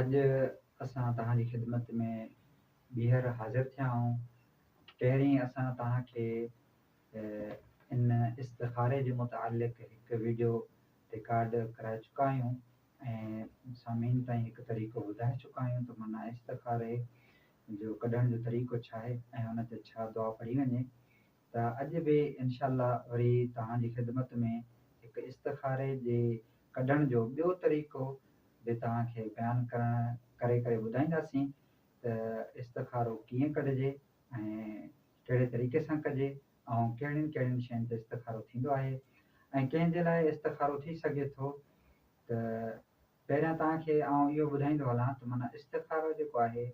اڄ اسان توهان جي خدمت ۾ ٻيهر حاضر ٿيا آهيون. پهرين اسان توهان کي ان استخاري جي متعلق هڪ ويڊيو رڪارڊ ڪرائي چڪا آهيون ۽ سامعين تائين هڪ طريقو ٻڌائي چڪا آهيون ته معنيٰ استخاري جو ڪڍڻ جو طريقو ڇا آهي ۽ ان تي ڇا دعا پڙهي وڃي ته اڄ به انشاء الله وري توهان جي خدمت ۾ هڪ استخاري جي ڪڍڻ جو ٻيو طريقو به توهان کي بيان ڪرڻ ڪري ڪري ٻڌائينداسين ته استخارو ڪيئن ڪڍجي ۽ ڪهڙي طريقي سان ڪجي ۽ ڪهڙين ڪهڙين شين تي استخارو ٿيندو آهي ۽ ڪنهن جي لاء استخارو ٿي سگهي ٿو ته پهريان توهان کي آئون اهو ٻڌائيندو هلان ته معنيٰ استخارو جيڪو آهي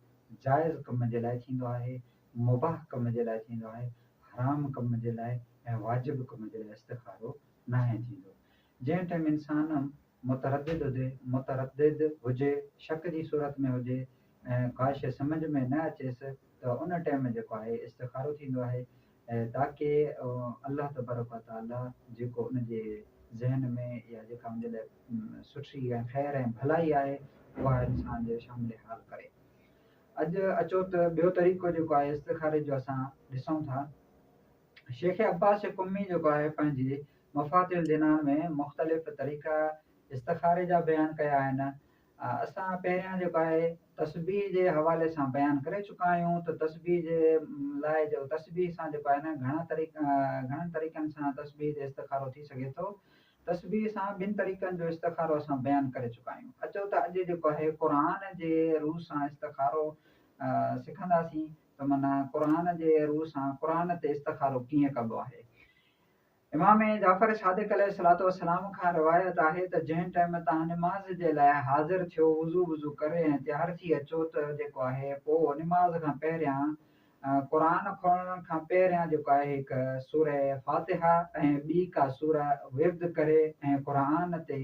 جائز ڪم جي لاء ٿيندو آهي، مباح ڪم جي لاء ٿيندو آهي، حرام ڪم جي لاء ۽ واجب ڪم جي لاء استخارو ناهي ٿيندو. جنهن ٽيم انسان متردد هجي متردد هجي شڪ جي صورت ۾ هجي ۽ ڪا شيء سمجهه ۾ نه اچيس ته ان ٽيم جيڪو آهي استخارو ٿيندو آهي تاڪه الله تبارڪ و تعاليٰ جيڪو ان جي ذهن ۾ يا جيڪا ان جي لاء سٺي ۽ خير ۽ ڀلائي آهي اها انسان جي شامل حال ڪري. اڄ اچو ته ٻيو طريقو جيڪو آهي استخاري جو اسان ڏسون ٿا. شيخ عباس قمي جيڪو آهي پنهنجي مفاتيح الجنان ۾ مختلف طريقا استخاري جا بيان ڪيا آهن اسان پهريان جيڪو آهي تسبيح جي حوالي سان بيان ڪري چڪا آهيون ته تسبيح جي لاء جو تسبيح سان جيڪو آهي نه گهڻا طريقا گهڻن طريقن سان تسبيح جي استخارو ٿي سگهي ٿو تسبيح سان ٻن طريقن جو استخارو اسان بيان ڪري چڪا آهيون اچو ته اڄ جيڪو آهي قرآن جي روح سان استخارو سکنداسين ته معنيٰ قرآن جي روح سان قرآن تي استخارو ڪيئن ڪبو آهي امام جعفر صادق عليه الصلوة والسلام کان روايت آهي ته جنهن ٽيم تهان نماز جي لاء حاضر ٿيو وضو وضو ڪري ۽ تيار ٿي اچو ته جيڪو آهي پوء نماز کان پهريان قرآن کولڻ کان پهريان جيڪو آهي هڪ سورة فاتحه ۽ ٻي ڪا سوره ورد ڪري ۽ قرآن تي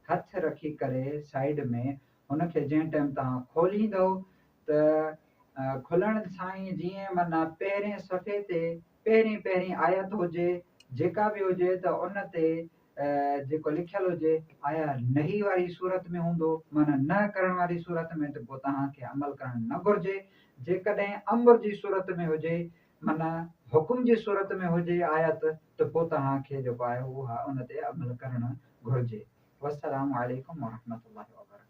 هٿ رکي ڪري سائيڊ ۾ هن کي جنهن ٽيم تهان کوليندؤ ته کلڻ سائين جيئن معنيٰ پهرين صفحي تي پهرين پهرين آيت هجي جيڪا به هجي ته ان تي جيڪو لکيل هجي آيا نهي واري صورت ۾ هوندو معنيٰ نه ڪرڻ واري صورت ۾ ته پوء توهان کي عمل ڪرڻ نه گهرجي جيڪڏهن امر جي صورت ۾ هجي معنيٰ حڪم جي صورت ۾ هجي آيت ته پوء توهان کي جيڪو آهي اها ان تي عمل ڪرڻ گهرجي والسلام عليڪم ورحمة الله وبرڪاته.